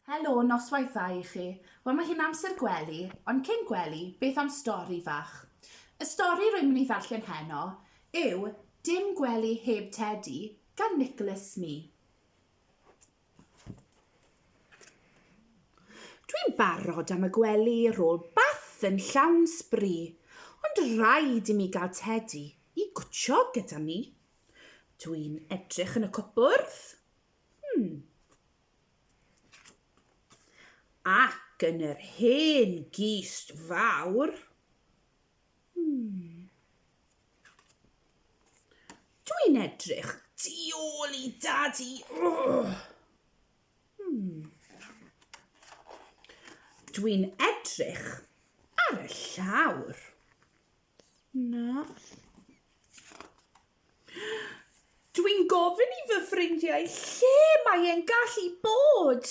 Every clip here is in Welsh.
Helo, noswaith dda i chi. Wel mae hi'n amser gwely, ond cyn gwely, beth am stori fach? Y stori rwy'n mynd i ddarllen heno yw Dim Gwely Heb Tedi gan Nicholas Smee. Dwi'n barod am y gwely rôl bath yn llawn sbri, ond rhaid i mi gael Tedi i gwtsio gyda mi. Dwi'n edrych yn y cwpwrdd, Hmm. Ac yn yr hen gist fawr. Hmm. Dwi'n edrych tu ôl i dadi. Oh. Hmm. Dwi'n edrych ar y llawr. Na. Dwi'n gofyn i fy ffrindiau lle mae e'n gallu bod,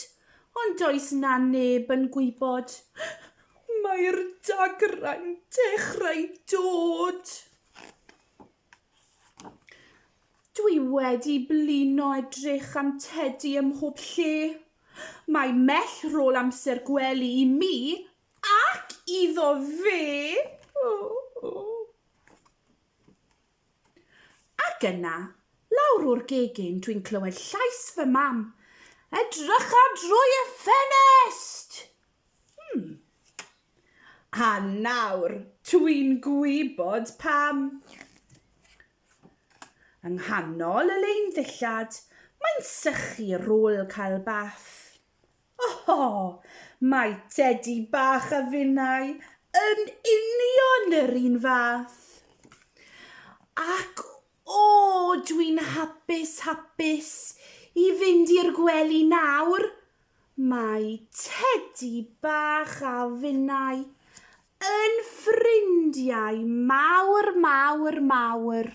ond does 'na neb yn gwybod. Mae'r dagrau'n dechrau dod. Dwi wedi blino edrych am Tedi ym mhob lle. Mae mell rôl amser gwely i mi ac iddo fe. O, o. Ac yna, lawr o'r gegin dwi'n clywed llais fy mam, Edrycha drwy y ffenest! Hmm. A nawr, dwi'n gwybod pam. Yng nghanol y lein ddillad, mae'n sychu rôl cael bath. O! Mae Tedi bach a finnau yn union yr un fath. Ac o, dwi'n hapus, hapus i fynd i'r gwely nawr. Mae Tedi bach a finnau yn ffrindiau mawr, mawr, mawr.